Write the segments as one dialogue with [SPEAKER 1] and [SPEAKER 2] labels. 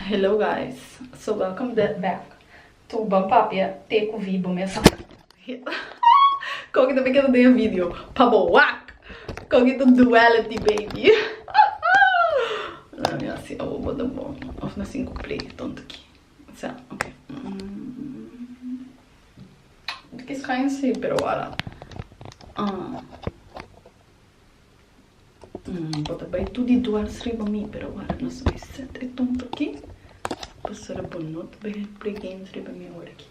[SPEAKER 1] Hello guys so welcome back to ban papia te cu vi bo mes anda. Coki ta beken den e video pa bo wak coki ta duality baby lami asi awo bo ta bon of na sin cu play tonto ki sa ok ntiki sky nsi pero wala ah. Bo ta bai tur di duars riba mi, pero awor nos bai set e tonto aki, pasobra bo no ta bai play games riba mi awor aki.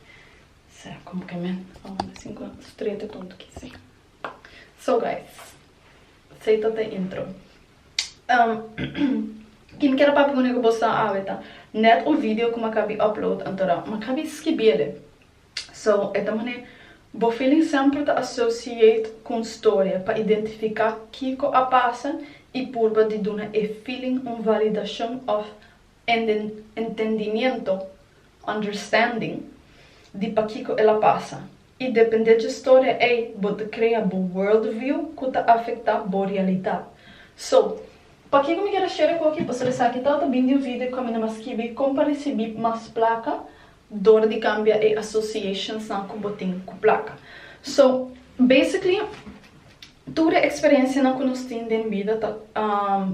[SPEAKER 1] Sera como que men a wanta sin cu nos trata e tonto aki así? So guys, esey ta ta e intro. Tin keda papia cu nega bo sa awe ta, net un video cu m'akabi upload antora m'akabi skibia le. So, e ta manera bo feeling sempru ta associate cu un storia pa identifica kico a pasa y purba di duna e feeling un validacion of entendimiento, understanding, di pakico el a pasa. Y depende dje storia ey bo ta crea bo worldview cu ta afecta bo realidad. So. Pakico mi quiere share cu aki pasobra esaki ta ta bin di un video cu mi na mas skibi con pa ricibi mas placa dor di cambia e associationsnan cu bo tin cu placa. So, basically, tur e experiencianan cu nos tin den bida ta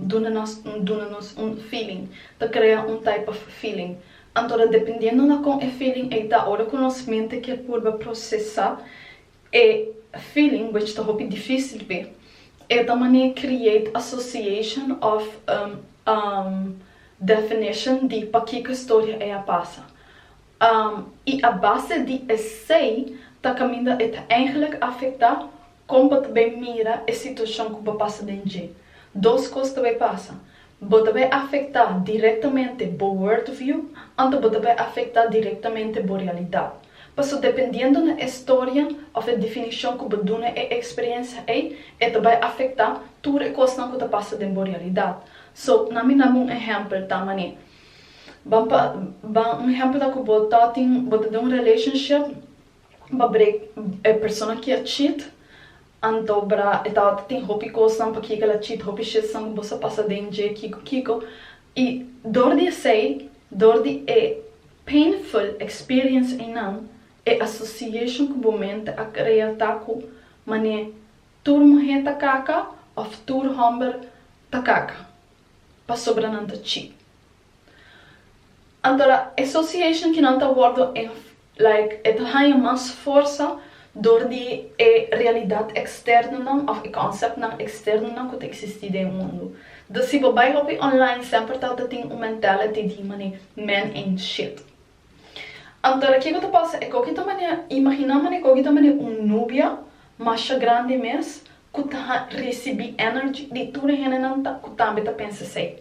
[SPEAKER 1] duna nos un duna nos un feeling, ta crea un type of feeling. Anto ta dependiendo na con e feeling ei ta, ora cu nos mente kier purba procesa E feeling which ta hopi difícil p'e e ta manera create association of um definition di pakiko e storia ei a pasa um i a base di esei ta kaminda e ta eigenlik afektá kon bo ta bai mira e situashon ku bo pasa den dje. Dos kos ta bai pasa. Bo ta bay afecta directamente bo world view anto bo ta bay afecta directamente bo realidad. Paso dependiendo na e storia of e definicion cu bo duna e experiencia ey, e ta bay afecta tur e cosnan cu ta pasa den bo realidad. So, nan mi naba un ehempel ta mane, Ban pa, ban un ehempel ta cu bo ta tin, bo ta den un relationship, pa break e persona ki a cheat anto bra e tabata tin hopi kosnan pa kiko el a cheat hopi shitsan ku boso a pasa den dje kiko kiko i dor di esei dor di e painful experience einan e association ku bo mente a krea ta ku man'e tur muhé ta kaka of tur homber ta kaka pasobra nan ta cheat. Anto la association ki nan ta wordo like e ta haña mas forsa dor di e realidad externonan of e conceptnan externonan cu ta existi den e mundu. Dus si bo bai hopi online semper ta ta tin un mentality di mane men ain't shit. Anto la kico ta pasa e coki ta mane imagina mane e coki ta mane un nubia masha grandi mes cu ta ricibi energy di tur e hendenan cu tambe ta pensa esey.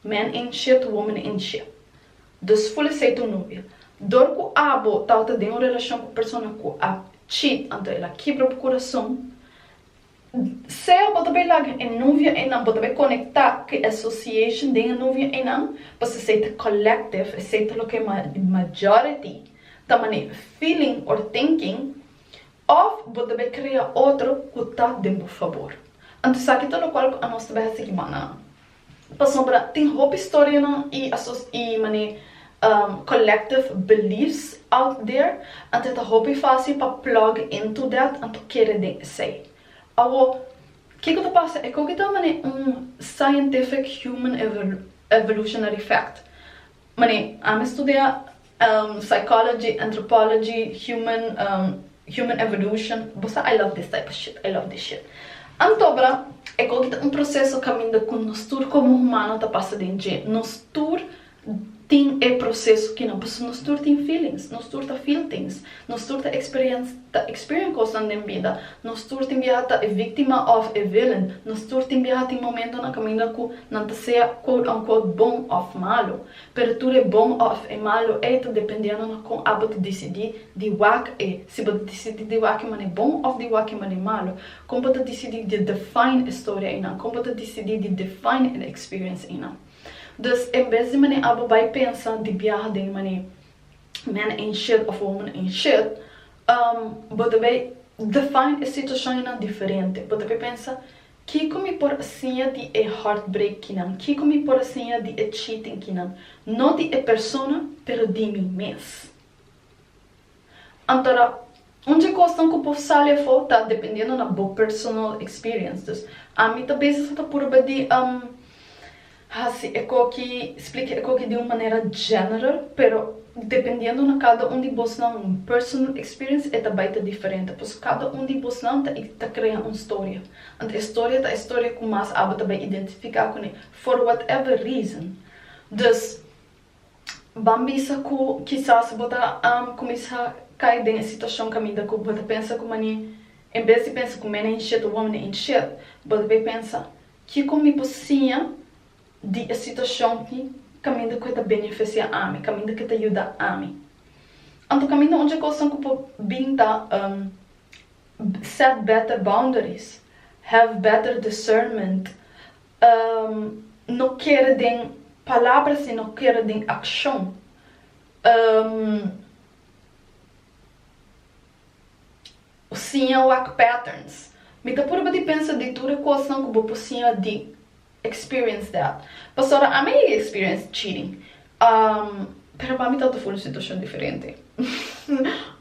[SPEAKER 1] Men in shit women in shit. Dus full esei tu nobia. Dor ku abo tawata den un relashon ku persona ku a cheat anto el a kibra bo kurason. Sea bo ta bay laga e novia einan bo ta bay konekta ku e association den e novia einan pasobra esei ta collective esei ta loke majority ta mane feeling or thinking of bo ta bay krea otro ku ta den bo fabor. Anto esaki ta lokual ku anos ta bay a sigi mannan. Pasobra tin hopi storianan i asos i man'e collective beliefs out there, anto e ta hopi fásil pa plug into that, anto kere den esei. Awo, kiko ta pasa? E koki ta man'e un scientific human evolutionary fact. Mane, ami studia psychology, anthropology, human human evolution, bo sa I love this type of shit, I love this shit. Anto bra, e koki ta un proseso kaminda ku nos tur komo humano ta pasa den dje, nos tur tin e proseso kinan, pasobra nos tur tin feelings, nos tur ta feel things. Nos tur ta experien cosnan den bida. Nos tur tin biaha ta e victima of e villain. Nos tur tin biaha tin momento na caminda cu nan ta sea quote unquote bon of malo. Pero tur e bon of e malo ey ta dependiendo na con abo ta dicidi di wak e. Si bo ta dicidi di wak e mane bon of di wak e mane malo. Con bo ta dicidi di define e storia eynan? Con bo ta dicidi di define e experience eynan? Dus en bes di mane abo bay pensa di biaha den e mane. men in shit of woman in shit, bo ta bay define e situacionnan diferente. Bo ta bay pensa, Kico mi por a siña di e heartbreak kinan? Kico mi por a siña di e cheating kinan? No di e persona, pero di mi mes. Anto ra, Un dje kosnan ku por sali afó ta dependiendo na bo personal experience. Dus ami ta bezes a ta purba di hasi ecoki, splika ecoki di un manera general, pero dependiendo na kada un di bosnan personal experience e ta bai ta diferente. Pasobra kada un di bosnan ta ta krea un storia. Anto e storia ta e storia ku mas aba ta bai identifiká kuné for whatever reason. Dus Ban bisa cu kisas bo ta cuminsa cay den e situacion caminda cu bo ta pensa cu man'e, en bes di pensa cu mena hinchet o hombre hinchet, bo ta bay pensa, Kico mi por siña di e situacion tin caminda cu e ta beneficia ami, caminda cu e ta yuda ami? Anto caminda un dje cosnan cu por bin ta, Set better boundaries, have better discernment, no kere den palabra sino kere den akshon. Bo siña wak patterns. Mi ta purba di pensa di tur e kosnan ku bo por siña di experience dat. Pasobra ami a yega experience cheating. Pero pa mi ta ta full un situacion diferente.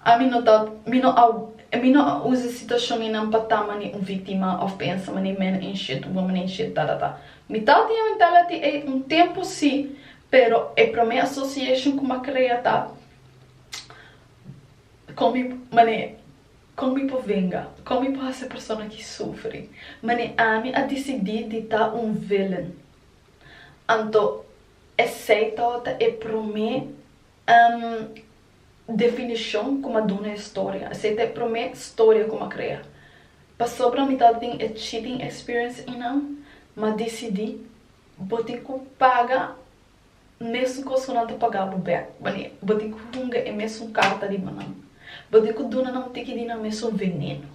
[SPEAKER 1] Ami no ta, mi no a, mi no a usa situacion enan pa ta mane un victima of pensa mane men ain't shit, woman ain't shit, ta ta ta. Mi ta tin e mentality ey un tempo si, pero e prome association cu mi a crea ta con mi, mane con mi por venga, con mi por haci e persona aki sufri, mane ami a decidi di ta un villain. Anto Esei to ta e promé definishon ku m'a duna e storia. Esei ta e promé storia ku m'a krea. Pasobra mi tabata tin e cheating experience einan, m'a disidí bo tin ku paga mesun kos ku nan ta pagá bo bèk. Bo tin ku hunga e mesun karta di bonan. Bo tin ku duna nan tiki di nan mesun veneno.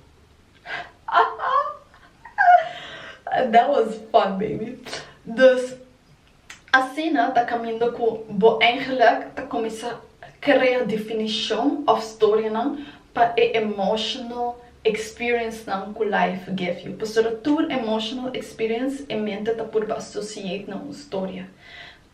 [SPEAKER 1] That was fun baby. Dus Asina ta caminda cu bo eigenlijk ta cuminsa crea definicion of storianan pa e emotional experiencenan cu life give you. Pasobra tur emotional experience e mente ta purba associate na un storia,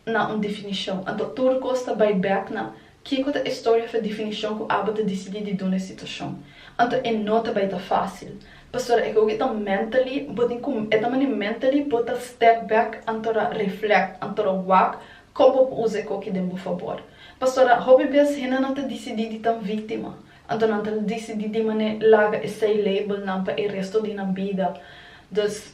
[SPEAKER 1] na un definicion. Anto tur cos ta bay back na. Kiko ta e storia of e definicion cu Abel ta dicidi di duna e situacion? Anto e no ta bay ta facil. Pastora eke oca e ta mentally bo tin cu e ta mane mentally bo ta step back anto ra reflect, anto ra wak con bo por usa e coki den bo fabor. Pastora hopi bes hende nan ta dicidi di tan victima, anto nan ta dicidi di mane laga esey label nan pa e resto di nan bida. Dus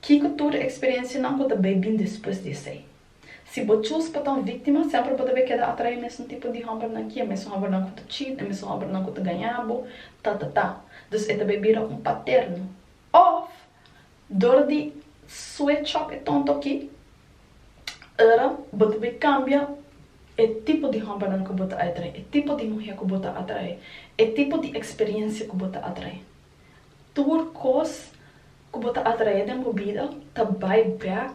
[SPEAKER 1] Kiko tur eksperensianan ku ta bai bin despues di esei? Si bo chus pa ta un víktima, semper bo ta bai keda atraí e mesun tipo di hòmbernan aki, e mesun hòmbernan ku ta cheat, e mesun hòmbernan ku ta gañá bo, tatatá. Dus e ta bai bira un paterno. Òf, dor di switch up e tonto aki, ora bo ta bai kambia e tipo di hòmbernan ku bo ta atraí, e tipo di muhé ku bo ta atraí, e tipo di eksperensia ku bo ta atraí. Tur kos ku bo ta atraé den bo bida ta bai bèk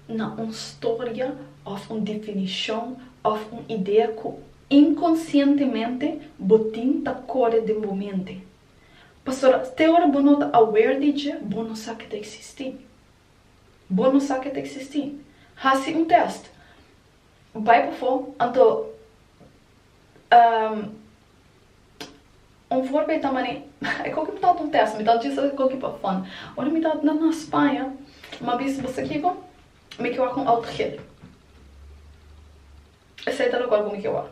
[SPEAKER 1] na un storia òf un definishon òf un idea ku inkonsientemente bo tin ta kore den bo mente. Pasobra te ora bo no ta aware di dje, bo no sa ke ta eksistí. Bo no sa ke ta eksistí. Hasi un tèst. Bai pafó, anto Un forma e ta mane Ecco che mi tawat un test, mi tawat dje sa ecco che pa fun. Ora mi tawat na na Spaña, m'a bisa bo sa kico? Mi ke wak un auto gel. Esei ta local cu mi ke wak.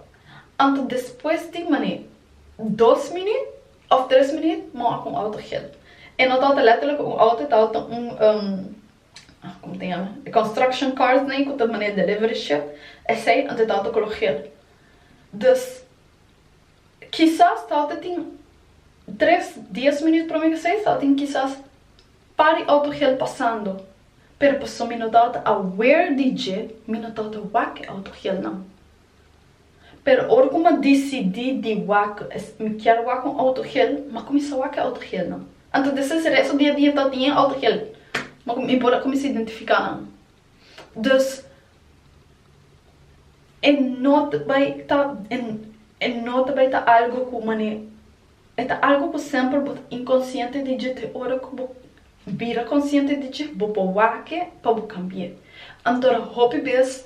[SPEAKER 1] Anto despues di mane dos minüt of tres minüt m'a wak un auto gel. E no tawata letterlijk un auto, e tawata un como ta yama? E construction cars nei cu ta mane delivery ship, esei anto e tawata color gel. Dus Kisas tal ta tin tres, dies minüt prome ke seis, tal tin kisas par di autogel pasando, pero pasobra mi no tabata aware di dje, mi no tabata wak e autogelnan. Pero ora ku m'a disidí di wak, mi kier wak un autogel, m'a kuminsá wak e autogelnan. Anto di esei, si resto di e dia ta tin e autogel, mi por a kuminsá identifiká nan. Dus e no ta bai ta e no ta bai ta algo ku mane e ta algo ku semper bo ta inkonsiente di dje. Te ora ku bo bira konsiente di dje bo por wak e pa bo kambi'é. Anto hopi bes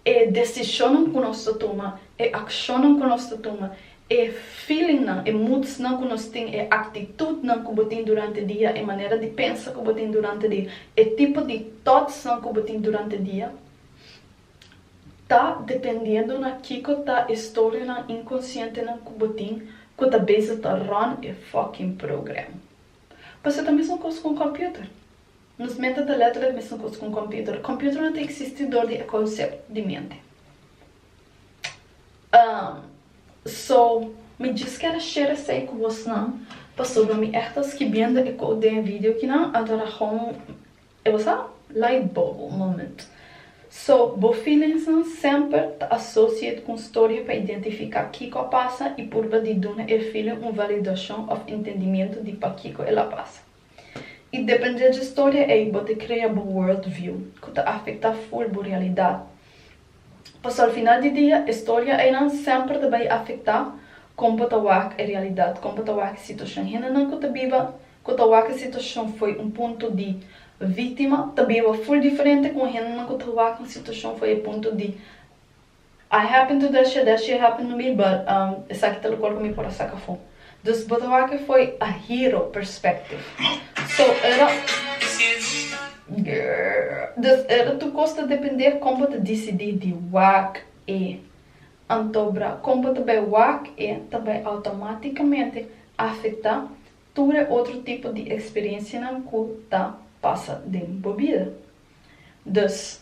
[SPEAKER 1] e desishonnan ku nos ta tuma, e akshonnan ku nos ta tuma, e feelingnan, e moodsnan ku nos tin, e aktitudnan ku bo tin durante dia, e manera di pensa ku bo tin durante dia, e tipo di thoughtsnan ku bo tin durante dia, ta dependiendo na kiko ta e storianan inkonsientenan ku bo tin ku ta beza ta ròn e fucking program. Pasobra ta mesma kos ku un computer. Nos mente ta letra e mesun cos cu un computer. Computer no ta existi dor di e concept di mente. Umm. So, mi djis ken a share esey cu bosnan pasobra mi echt a skibiendo e quote den e video kinan a dora hon e bo sa light bulb moment. So, bo feelingsnan semper ta associate cu un storie pa identifica kico a pasa y purba di duna e feeling un validacion of intendimiento di pakico el a pasa. I depende dje storia ei bo te krea bo world view ku ta afektá ful bo realidat. Paso al final di dia e storia einan semper ta bai afektá kon bo ta wak e realidat, kon bo ta wak e situashon. Hendenan ku ta biba, ku ta wak e situashon fo'i un punto di víktima ta biba ful diferente kon hendenan ku ta wak un situashon fo'i e punto di I happen to that shit, that shit happen to me, but um, esaki ta lokal ku mi por a saka afó. Dus bo ta wak e foi a hero perspective. So, e ta, grrr, dus e ta tur kos ta dependé kon bo ta disidí di wak e. Anto bra, kon bo ta bai wak e ta bai outomaticamente afectá tur e otro tipo di experiencianan ku ta pasa den bo bida. Dus.